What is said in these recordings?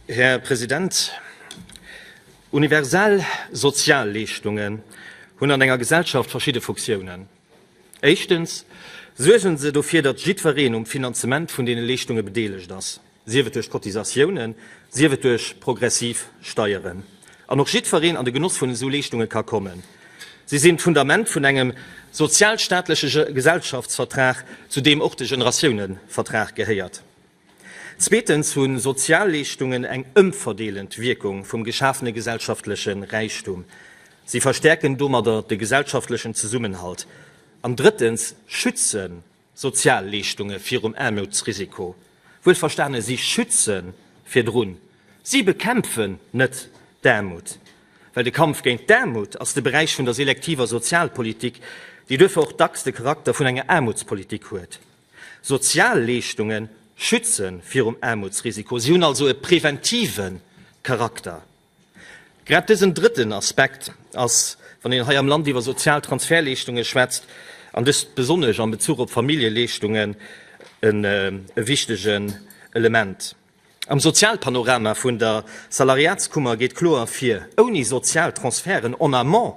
Här President, universell Sozialleeschtungen hunn an enger Gesellschaft verschidde Funktiounen. Éischtens suergen se dofir, datt jiddwereen um Finanzement vun deene Leeschtunge bedeelegt ass, sief et duerch Cotisatiounen, sief et duerch progressiv Steieren. an och jiddfereen an de Genoss vun esou Leeschtunge ka kommen. Si sinn d'Fundament vun engem sozialstaatleche Gesellschaftsvertrag, zu deem och de Generatiounevertrag gehéiert. Zweetens hu Sozialleeschtungen eng ëmverdeelend Wierkung vum geschafene gesellschaftleche Räichtum. Si verstäerken domadder de gesellschaftlechen Zesummenhalt. An drëttens schützen Sozialleeschtunge virum Aarmoutsrisiko, wuel verstane, si schütze virdrun, si bekämpfen net d'Aarmut, well de Kampf géint d'Aarmut ass de Beräich vun der selektiver Sozialpolitik, déi duerfir och dacks de Charakter vun enger Aarmutspolitik huet. Sozialleeschtunge schütze virum Aarmutsrisiko, si hunn also e präventive Charakter. Grad dësen drëtten Aspekt ass, wann een hei am Land iwwer sozial Transferleeschtungen schwätzt, an dëst besonnesch am Bezuch op Familljeleeschtungen, e wichtegen Element. Am Sozialpanorama vun der Salariatskummer geet kloer ervir, Ouni sozial Transferten en amont,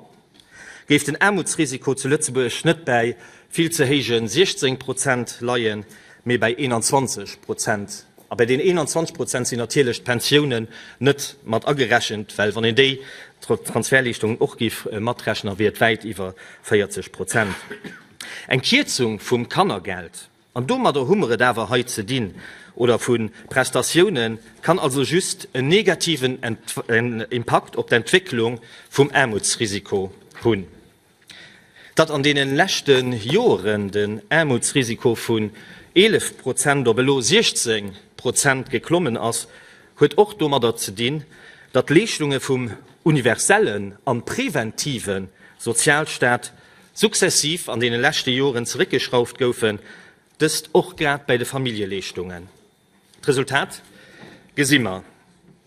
Géif den Aarmutsrisiko zu Lëtzebuerg net bäi vill ze héije 16 Prozent leien, mee bäi 21 Prozent. A bäi den 21 Prozent sinn natierlech d'Pensiounen net mat agerechent, well wann een déi Transferleeschtungen och géif matrechnen, wier et wäit iwwer 40 Prozent. Eng Kierzung vum Kannergeld An domadder hu mer et awer hei ze dinn, oder vu Prestatiounen, kann also just en negativen Impakt op d'Entwécklung vum Aarmutsrisiko hunn. Datt an deenen leschte Joren den Aarmutsrisiko vun 11 Prozent op elo 16 Prozent geklommen ass, huet och domadder ze dinn, datt d'Leeschtunge vum universellen an präventiven Sozialstaat successiv an deene leschte Joren zeréckgeschrauft goufen, dëst och grad bäi de Familljeleeschtungen. D'Resultat gesi mer,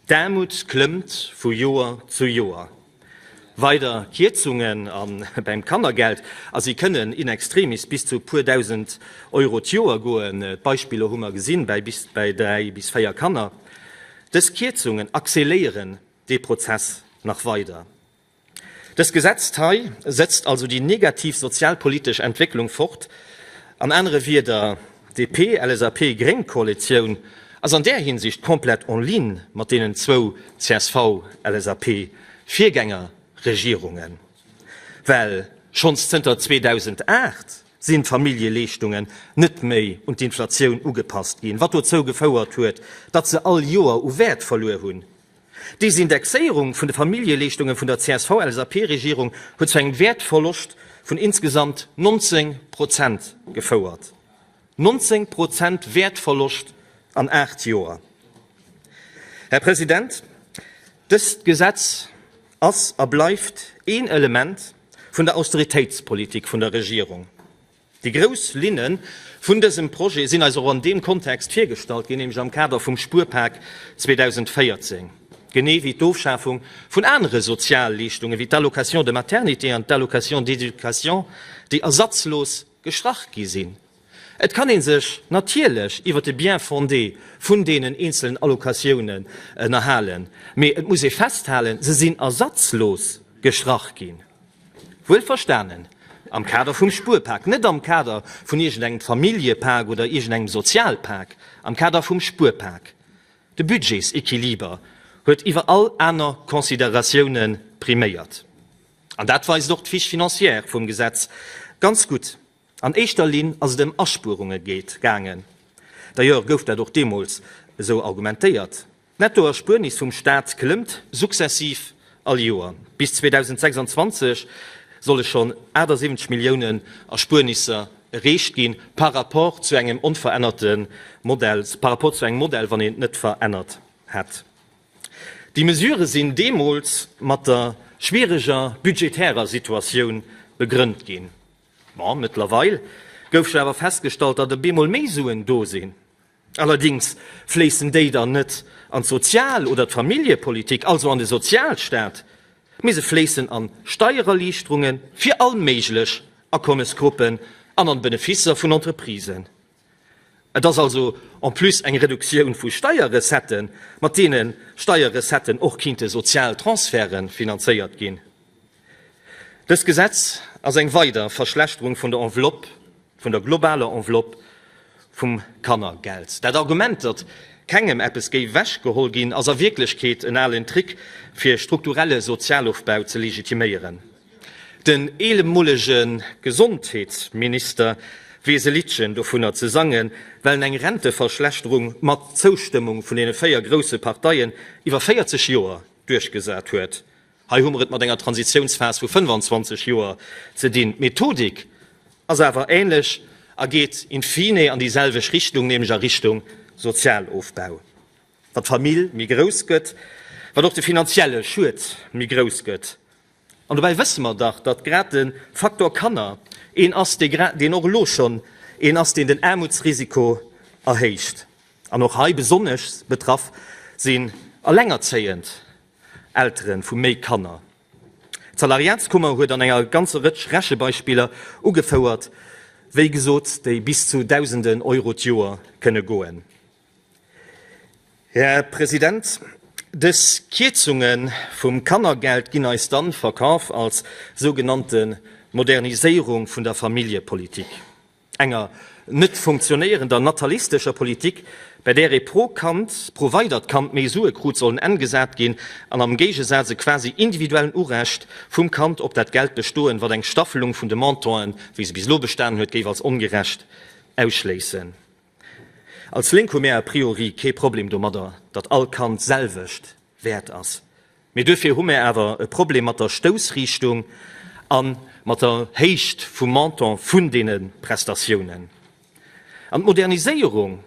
D'Aarmut klëmmt vu Joer zu Joer. Weider Kierzungen a beim Kannergeld, a si kënnen in extremis bis zu e puer Dausend Euro d'Joer goen, d'Beispiller hu mer gesinn, bäi bis bäi dräi bis véier Kanner. Dës Kierzungen acceléieren dee Prozess nach weider. Dëst Gesetzt hei setzt also déi negativ sozialpolitesch Entwécklung fort. An anere Wieder, d'DP-LSAP-Gréng-Koalitioun ass an där Hinsicht komplett en ligne mat deenen zwou CSV-LSAP-Virgängerregierungen, well schonns zënter 2008 sinn d'Familljeleeschtungen net méi un d'Inflatioun ugepasst ginn, wat dozou gefouert huet, datt se all Joer u Wäert verluer hunn. Des Indexéierung vun de Familljeleeschtunge vun der CSV-LSAP-Regierung huet zu engem Wäertverloscht vun insgesamt 19 Prozent gefouert. 19 Prozent Wäertverloscht an aacht Joer! Här President, dëst Gesetz ass a bleift een Element vun der Austeritéitspolitik vun der Regierung. Déi grouss Linne vun dësem Projet sinn eis och an deem Kontext virgestallt ginn, nämlech am Kader vum Spuerpak 2014, genee wéi d'Ofschafung vun anere Sozialleeschtungen, wéi d'Allocation de maternité an d'Allocation d'éducation, déi ersatzlos gestrach gi sinn. Et kann ee sech natierlech iwwer de Bien-fondé vun deenen eenzelen Allocatiounen ënnerhalen, mee et muss ee festhalen, se sinn ersatzlos gestrach ginn. Wuel verstanen, am Kader vum Spuerpak, net am Kader vun iergendengem Familljepak oder iergendengem Sozialpak, am Kader vum Spuerpak. De Budgetséquiliber huet iwwer all aner Consideratioune priméiert. An dat weist och d'Fiche financière vum Gesetz ganz gutt. An éischter Linn ass et ëm Aspuerunge geet gaangen. D'ailleurs gouf dat och deemools esou argumentéiert. D'Nettoerspuernis vum Staat klëmmt successiv all Joer. Bis 2026 solle schonn 78 Milliounen Erspuernisser erreecht ginn, par rapport zu engem onverännerte Modell, par rapport zu engem Modell, wann een et net verännert hätt. Déi Mesurë sinn deemools mat der schwiereger budgetärer Situatioun begrënnt ginn. Ma mëttlerweil gouf jo awer festgestallt, datt e bemol méi Suen do sinn. Allerdings fléissen déi dann net an d'Sozial oder d'Familljepolitik, also an de Sozialstaat, mee se fléissen an Steiererliichterunge fir all méiglech Akommesgruppen an an d'Beneficer vun Entreprisen. Et ass also en plus eng Reduktioun vu Steierrecetten, mat deene Steierrecetten och kinnte sozial Transferte finanzéiert ginn. Dëst Gesetz ass eng weider Verschlechterung vun der Enveloppe, vun der globaler Enveloppe vum Kannergeld. Dat Argument, datt kengem eppes géif ewechgeholl ginn, ass a Wierklechkeet en alen Trick, fir strukturelle Sozialofbau ze legitiméieren. Den eehemolege Gesondheetsminister weess e Liddchen dovunner ze sangen, well eng Renteverschlechterung mat Zoustëmmung vun deene véier grousse Parteien iwwer 40 Joer duerchgesat huet. Hei hu mer et mat enger Transitiounsphas vu 25 Joer ze dinn. D'Methodik ass awer ähnlech a geet in fine an déi selwecht Richtung, nämlech a Richtung Sozialofbau. Wat d'Famill méi grouss gëtt, wat och de finanzielle Schued méi grouss gëtt. An dobäi wësse mer dach, datt grad de Faktor Kanner een ass, deen och elo schonn een ass, deen den Aarmutsrisiko erhéicht. An och hei besonnesch betraff sinn allengerzéiend Eltere vu méi Kanner. D'Salariatskummer huet an enger ganzer Rëtsch Rechebeispiller ugefouert, wéi gesot, déi bis zu Dausenden Euro d'Joer kënne goen. Här President, dës Kierzunge vum Kannergeld ginn eis dann verkaf als sougenannte Moderniséierung vun der Familljepolitik, enger net funktionéierender natalistescher Politik, bei där ee pro Kand, pro weidert Kand méi Sue krut, soll en Enn gesat ginn an am Géigesaz e quasi individuellen Urecht vum Kand op dat Geld bestoen, wat eng Staffelung vun de Montanten, wéi se bis elo bestan huet, géif als ongerecht ausschléissen. Als Lénk hu mär a priori kee Problem domadder, datt all Kand d'selwecht wäert ass. Mee duerfir hu mär awer e Problem mat der Stoussriichtung a mat der Héicht vum Montant vun deene Prestatiounen. An d'Moderniséierung,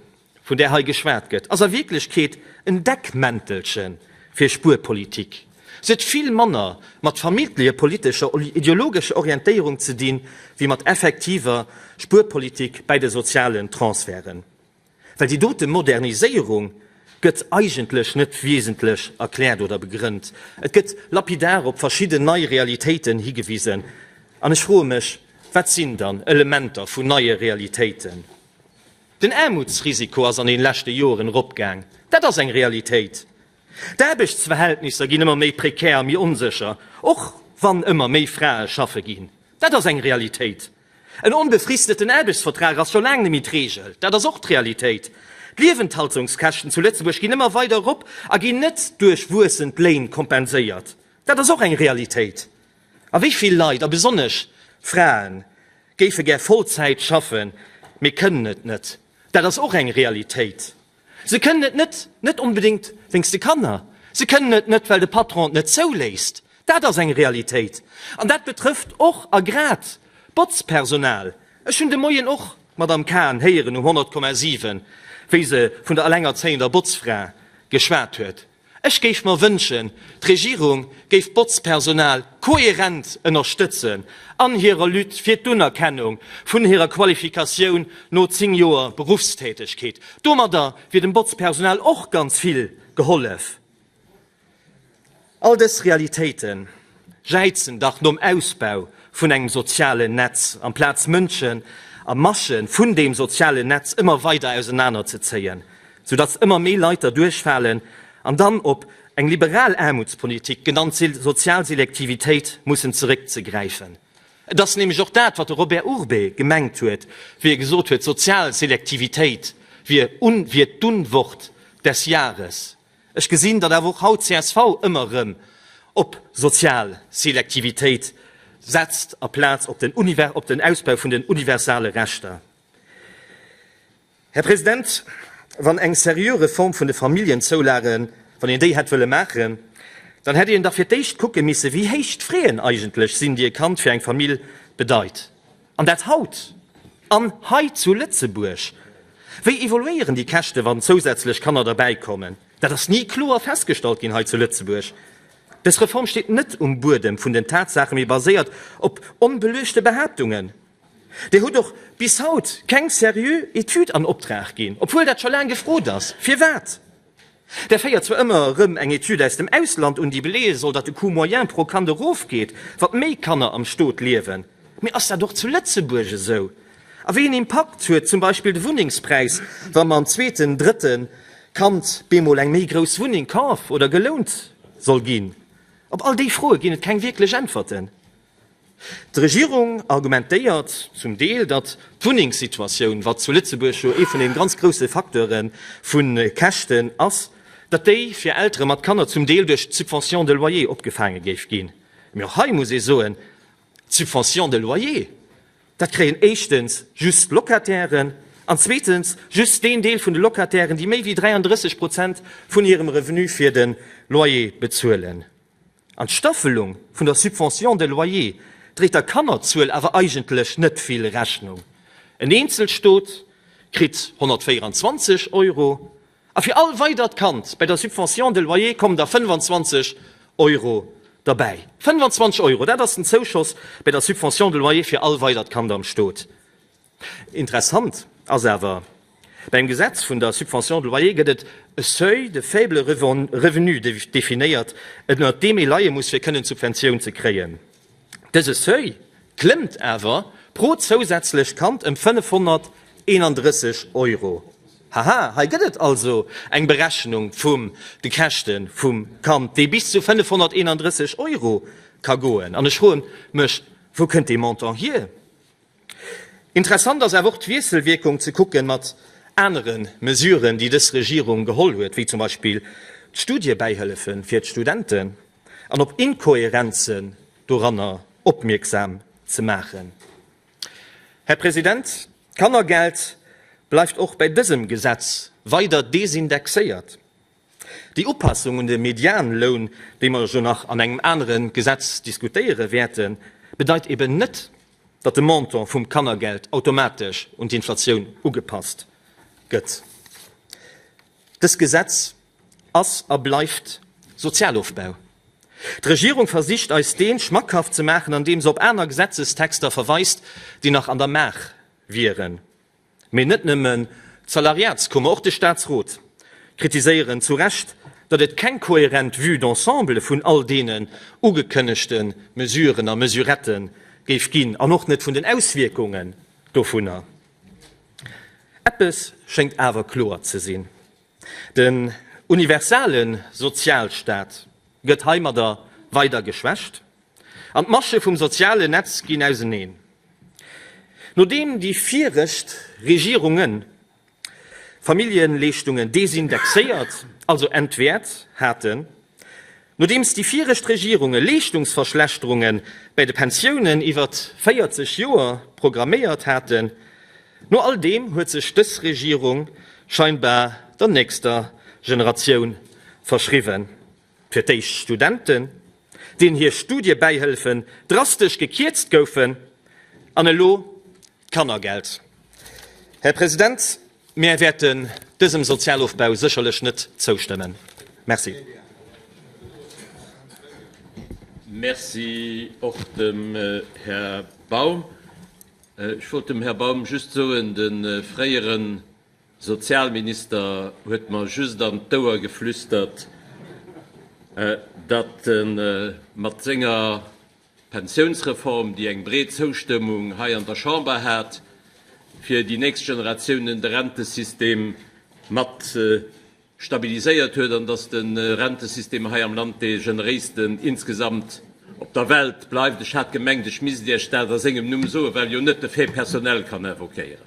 vun där hei geschwat gëtt, ass a Wierklechkeet en Deckmäntelche fir Spuerpolitik. Si huet vill manner mat familjepolitescher oder ideologescher Orientéierung ze di wéi mat effektiver Spuerpolitik bäi de sozialen Transferten, well déi dote Moderniséierung gëtt eigentlech net wiesentlech erkläert oder begrënnt. Et gëtt lapidar op verschidden nei Realitéiten higewisen. An ech froe mech, Wat sinn dann Elementer vun neie Realitéiten? Den Aarmutsrisiko ass an den leschte Joeren eropgaang, dat ass eng Realitéit. D'Aarbechtsverhältnisser ginn ëmmer méi prekär a méi onsécher, och wann ëmmer méi Frae schaffe ginn. Dat ass eng Realitéit. En onbefristeten Aarbechtsvertrag ass scho laang net méi d'Reegel, dat ass och d'Realitéit. D'Liewenthaltungskäschten zu Lëtzebuerg ginn ëmmer weider erop a ginn net duerch wuessend Léin kompenséiert, dat ass och eng Realitéit. A wéi vill Leit, a besonnesch Frae géife gär Vollzäit schaffen, mee kënnen et net, dat ass och eng Realitéit. Se kënnen et net, net onbedéngt wéinst de Kanner, se kënnen et net, well de Patron et net zouléisst. Dat ass eng Realitéit. An dat betrëfft och a grad d'Botzpersonal. Ech hunn de Moien och d'Madamm Cahen héieren um 100,7, wéi se vun der elengerzéiender Botzfra geschwat huet. Ech géif mer wënschen, d'Regierung géif d'Botzpersonal kohärent ënnerstëtzen an hirer Lutte fir d'Unerkennung vun hirer Qualifikatioun no 10 Joer Beruffstätegkeet. Domadder wier dem Botzpersonal och ganz vill gehollef. All dës Realitéiten, Jäizen dach nom Ausbau vun engem sozialen Netz, amplaz Mënschen a Masse vun deem sozialen Netz ëmmer weider ausenaner ze zéien, sou datt ëmmer méi Leit derduerch falen an dann op eng liberal Aarmutspolitik, genannt sozial Selektivitéit, mussen zeréck ze gräifen. Et ass nämlech och dat, wat de Robert Urbé gemengt huet, wéi e gesot huet, sozial Selektivitéit wier d'Unwort des Jahres. Ech gesinn, datt awer och haut csv ëmmer erëm op sozial Selektivitéit setzt aplaz op den op den Ausbau vun den universale Rechter. Här President, wann eng seriö Reform vun de Familljenzoulagen, wann een déi hätt wëlle maachen, dann hätt een dach fir d'éischt kucke misse wéi héich d'Fraen eigentlech sinn, déi e Kand fir eng Famill bedeit. An dat haut an hei zu Lëtzebuerg! Wéi evoluéieren déi Käschte wann zousätzlech Kanner derbäi kommen? Dat ass ni kloer festgestallt ginn hei zu Lëtzebuerg. Dës Reform steet net um Buedem vun den Tatsaachen, mee baséiert op onbeluechte Behaaptungen. Dir hutt och bis haut keng seriö Etüd an Optrag ginn, obwuel dat scho laang gefrot ass. Firwat? Där féiert zwar ëmmer erëm eng Etüd aus dem Ausland un, déi beleeë soll, datt de Coût moyen pro Kand erofgeet, wat méi Kanner am Stot liewen. Mee ass dat och zu Lëtzebuerg esou? A wéi een Impakt huet zum Beispill de Wunnengspräis, wa mam zweeten, drëtte Kand bemol eng méi grouss Wunneng kaf oder gelount soll ginn? Op all déi Froe ginn et keng wierklech Äntwerten. D'Regierung argumentéiert zum Deel, datt d'Wunnengssituatioun, wat zu Lëtzebuerg jo ee vun de ganz grousse Facteure vu Käschten ass, datt déi fir Eltere mat Kanner zum Deel duerch d'Subvention de loyer opgefaange géif ginn. Mee och hei muss ee soen, d'Subvention de loyer, dat kréien éischtens just d'Locatairen an zweetens just deen Deel vun de Locatairen, déi méi wéi 33 Prozent vun hirem Revenu fir de Loyer bezuelen. An d'Staffelung vun der Subvention de loyer dréit der Kannerzuel awer eigentlech net vill Rechnung, en eenzelt Stot kritt 124 Euro a fir all weidert Kand bei der Subvention de loyer kommen der 25 Euro derbäi. 25 Euro, dat ass den Zouschoss bei der Subvention de loyer fir all weidert Kand am Stot. Interessant ass awer, Beim Gesetz vun der Subvention de loyer gëtt et e Seuil de faible revenu definéiert, ënnert deem ee leie muss, fir kënnen d'Subventioun ze kréien. Dëse Seuil klëmmt awer pro zousätzlecht Kand ëm 531 Euro. Haha, hei gëtt et also eng Berechnung vum de Käschte vum Kand, déi bis zu 531 Euro ka goen. An ech froe mech, Wou kënnt dee Montant hier? Interessant ass awer och d'Wiesselwierkung ze kucken mat anere Mesuren, déi dës Regierung geholl huet, wéi zum Beispill d'Studiebäihëllefe fir d'Studenten, an op Inkohärenzen doranner opmierksam ze maachen. Här President, d'Kannergeld bleift och bei dësem Gesetz weider desindexéiert. Déi Upassung un de Medianloun, déi mer jo nach an engem anere Gesetz diskutéiere wäerten, bedeit eben net, datt de Montant vum Kannergeld automatesch un d'Inflatioun ugepasst gëtt. Dëst Gesetz ass a bleift Sozialofbau. D'Regierung versicht eis dee schmackhaft ze maachen, andeem se op aner Gesetzestexter verweist, déi nach an der Maach wieren. Mee net nëmmen d'Salariatskummer, och de Staatsrot kritiséieren zu Recht, datt et keng kohärent Vue d'ensemble vun all deenen ugekënnegte Mesuren a Mesurette géif ginn an och net vun den Auswierkungen dovunner. Eppes schéngt awer kloer ze sinn. Den universale Sozialstaat gëtt heimadder weider geschwächt an d'Masche vum sozialen Netz ginn auseneen. Nodeem déi viregt Regierunge Familljenleeschtungen desindexéiert, also entwäert, haten, Nodeems déi viregt Regierunge Leeschtungsverschlechterunge bäi de Pensiounen iwwert 40 Joer programméiert haten, no all deem huet sech dës Regierung scheinbar der nächster Generatioun verschriwwen. Fir d'éischt Studenten, deenen hir Studiebäihëlfen drastesch gekierzt goufen, an elo d'Kannergeld. Här President, Mär wäerten dësem Sozialofbau sécherlech net zoustëmmen. Merci. Merci och dem Här Baum. Ech wollt dem Här Baum just soen, de fréiere Sozialminister huet mer just an d'Ouer geflüstert, datt e mat senger D'Pensiounsreform, déi eng breet Zoustëmmung hei an der Chamber hat, fir déi nächst Generatiounen de Rentesystem mat stabiliséiert huet, an datt de Rentesystem hei am Land dee generéisten insgesamt op der Welt bleift. Ech hat gemengt, ech misst Iech dat a sengem Numm soen, well jo net de Fait personnel kann invoquéieren.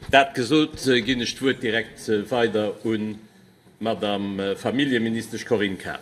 Dat gesot, ginn ech d'Wuert direkt weider un D'Madame Familljeministesch Corinne Cahen.